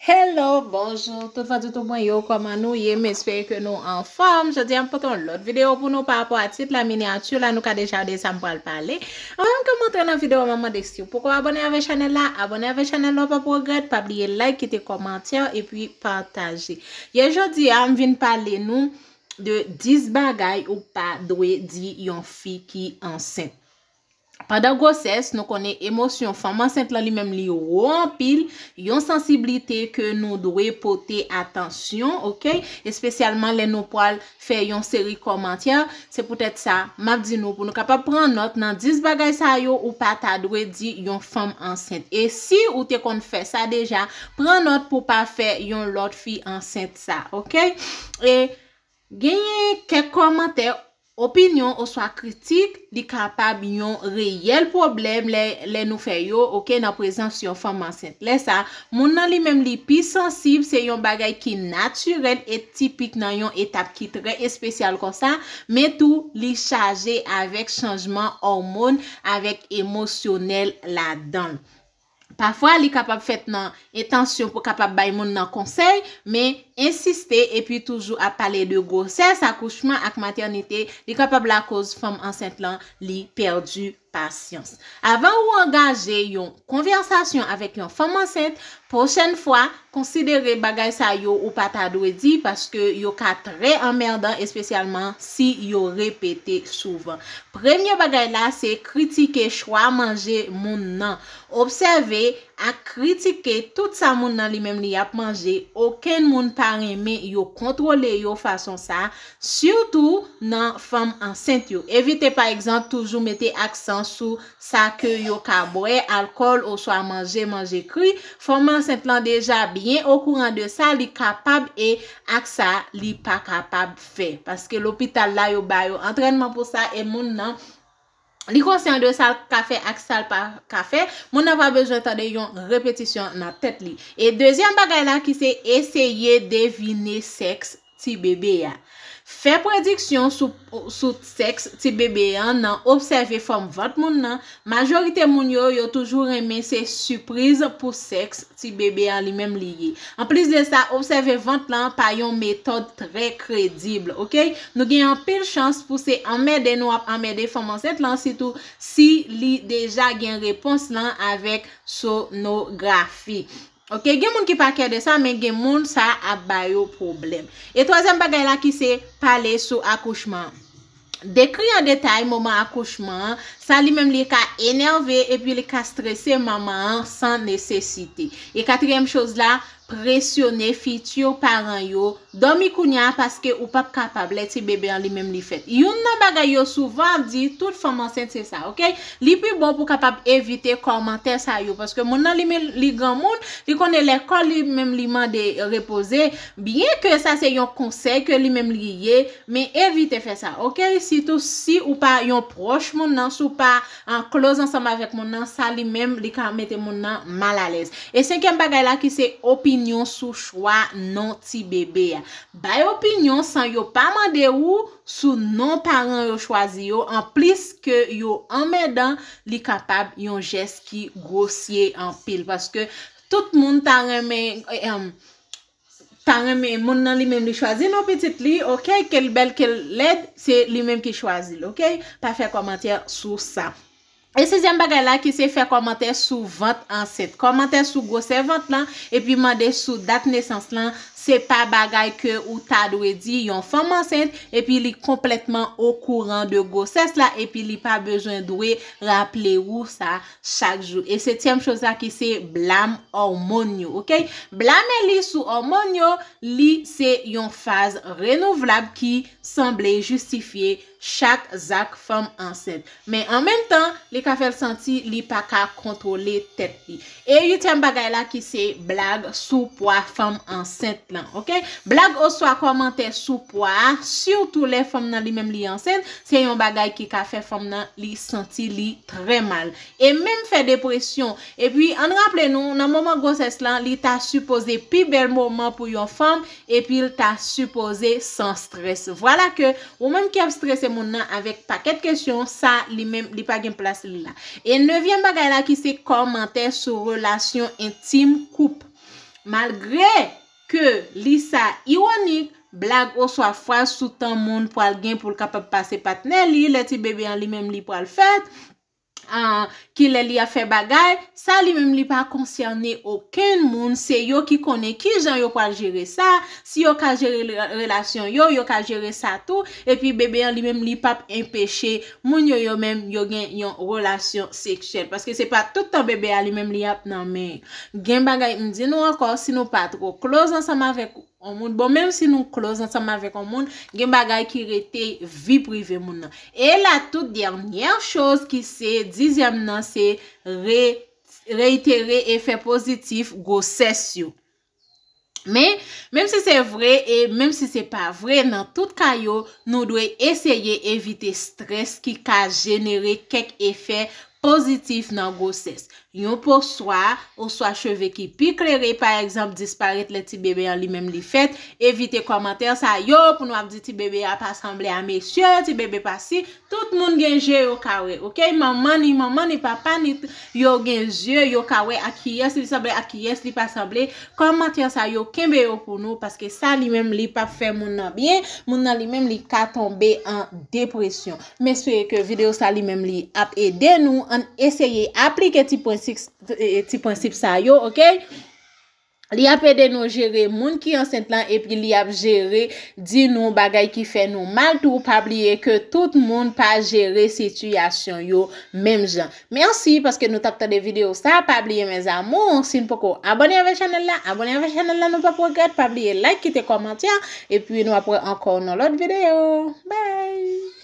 Hello bonjour tout fans YouTube mwen yo koman nou ye m espere ke nou anfòm jodi a m pote yon lòt video pou nou pa rapò a tit la miniature la nou ka deja wè de sa m pral pale anvan ke m antre nan video a mwen mande siw poko abone avè chanèl la abone avè chanèl la w pap regrèt pa bliye like kite kòmantè epi pataje ye jodi a m vin pale nou de 10 bagay ou pa dwe di yon fi ki ansent. Pandan gwosès, nou konnen emosyon fanm ansent lan li menm li wo anpil, yon sansiblite ke nou dwe pote atansyon, ok, espesyalman lè nou pwal fè yon seri kòmantè, se poutèt sa, map di nou pou nou kapab pran nòt nan 10 bagay sa yo ou pa ta dwe di yon fanm ansent. E si ou te konn fè sa deja, pran nòt pou pa fè yon lòt fi ansent sa, ok. E. Genyen kèk kòmantè, opinyon oswa kritik, li kapab yon reyèl pwoblèm lè lè nou fè yo, ok, nan prezans yon fanm ansent. Lè sa, moun nan li menm li pi sansib, se yon bagay ki natirèl e tipik nan yon etap ki trè espesyal konsa, men tou li chaje avèk chanjman òmon, avèk emosyonèl ladan l. Pafwa li kapab fèt nan entansyon pou kapab bay moun nan konsèy, men ensiste epi toujou ap pale de gwosès, akouchman ak matènite, li kapab lakoz fanm ansent lan li pèdi pasyans. Avan ou angaje yon konvèsasyon avèk yon fanm ansent, pwochèn fwa, Konsidere bagay sa yo ou pa ta dwe di paske yo ka trè anmèdan espesyalman si yo repete souvan. Premye bagay la se kritike chwa manje moun nan. Obsève ak kritike tout sa moun nan li menm li ap manje, okenn moun pa renmen yo kontwole yo fason sa, sitou nan fanm ansent yo. Evite pa egzanp toujou mete aksan sou sa ke yo ka bwè alkòl oswa manje manje kri, fanm ansent lan deja byen okouran de sa li kapab e ak sa li pa kapab fè. Paske lopital la yo ba yo antrènman pou sa e moun nan li konsyan de sa l ka fè ak sa l pa ka fè, moun nan pa bezwen tande yon repetisyon nan tèt li. E dezyèm bagay la ki se eseye devine sèks ti bebe a. Fè prediksyon sou sèks ti bebe an nan obsève fòm vant moun nan, majorite moun yo yo toujou renmen se sipriz pou sèks ti bebe an li menm li ye. Anplis de sa, obsève vant lan pa yon metòd trè kredib, ok. Nou gen anpil chans pou se anmède nou ap anmède fanm ansent lan sitou si li deja gen repons lan avèk sonografi. Ok gen moun ki pa kè de sa men gen moun sa ap ba yo pwoblèm. E twazyèm bagay la ki se pale sou akouchman. Dekri an detay moman akouchman an, sa li menm li ka enève epi li ka strese manman an san nesesite. E katriyèm choz la, presyone fiti paran yo. Dòmi kounya a paske ou pap kapab lè ti bebe an li menm li fèt. Youn nan bagay yo souvan ap di tout fanm ansent se sa ok. Li pi bon pou kapab evite kòmantè sa yo paske moun nan li menm li granmoun, li konnen lè kò li menm li mande repoze, byen ke sa se yon konsèy ke li menm li ye, men evite fè sa ok, sitou si ou pa yon pwòch moun nan, si w pa an kloz ansanm avèk moun nan, sa li menm li ka mete moun nan mal alèz. E senkyèm bagay la ki se opinyon sou chwa non ti bebe a. Bay opinyon san yo pa mande ou sou non paran yo chwazi yo, an plis ke yo anmèdan, li kapab yon jès ki gwosye anpil. Paske tout moun ta renmen, ta renmen moun nan li menm li chwazi non pitit li ok kel bèl kel lèd se li menm ki chwazi l ok pa fè kòmantè sou sa e sizyèm bagay la ki se fè kòmantè sou vant ansent kòmantè sou gwosè vant lan epi mande sou dat nesans lan se pa bagay ke ou ta dwe di yon fanm ansent epi li konplètman okouran de gwosès la epi li pa bezwen dwe raple ou sa chak jou e setyèm choz la ki se blam òmon yo ok blame li sou òmon yo li se yon faz renouvlab ki sanble jistifye chak zak fanm ansent men an menm tan li ka fèl santi li pa ka kontwole tèt li e uityèm bagay la ki se blag sou pwa fanm ansent lan ok blag oswa kòmantè sou pwa a sitou lè fanm nan li menm li ansent se yon bagay ki ka fè fanm nan li santi li trè mal e menm fè depresyon epi ann raple nou nan moman gwosès lan li ta sipoze pi bèl moman pou yon fanm epil ta sipoze san strès vwala ke ou menm ki ap strese moun nan avèk pakèt kesyon sa li menm li pa gen plas li la e nevyèm bagay la ki se kòmantè sou relasyon entim koup malgre. Ke li sa iwonik, blag oswa fraz sou tan moun pral gen pou l kapab pase patnè li lè ti bebe an li menm li pral fèt, ki lè li ap fè bagay, sa li menm li pa konsène okenn moun, se yo ki konnen ki jan yo pral jere sa, si yo ka jere relasyon yo, yo ka jere sa tou, epi bebe an li menm li pap enpeche moun yo yo menm yo gen yon relasyon seksyèl paske se pa tout tan bebe a li menm li ap nan men gen bagay m di nou ankò si nou pa twò close ansanm avèk yon moun bon menm si nou close ansanm avèk yon moun gen bagay ki rete vi prive moun nan e la tout dènyè choz ki se dizyèm nan se re reitere efè pozitif gwosès yo. Men, menm si se vre e menm si se pa vre, nan tout ka yo, nou dwe eseye evite strès ki ka jenere kèk efè pozitif nan gwosès. Yon po swa, oswa cheve ki pi klere, pa egzanp, disparèt lè ti bebe an li menm li fèt. Evite kòmantè sa yo pou nou ap di ti bebe a pa sanble a mesye, ti bebe pa si. Tout moun gen je yo ka wè ok manman ni manman ni papa ni t yo gen zye yo ka wè ak kiyès li sanble ak kiyès li pa sanble kòmantè sa yo kenbe yo pou nou paske sa li menm li pap fè moun nan byen moun nan li menm li ka tonbe an depresyon m espere ke video sa li menm li ap ede nou ann eseye aplike ti prensik ti prensip sa yo ok. Li ap ede nou jere moun ki ansent lan epi li ap jere di nou bagay ki fè nou mal tou pa bliye ke tout moun pa jere sitiyasyon yo menm jan. Merci paske nou tap tande video sa pa bliye mes amours si nou poko abone avè chanel la abone avè chanel la nou pap regrèt pa bliye like kite kòmantè epi nou ap wè ankò nan lòt video bye.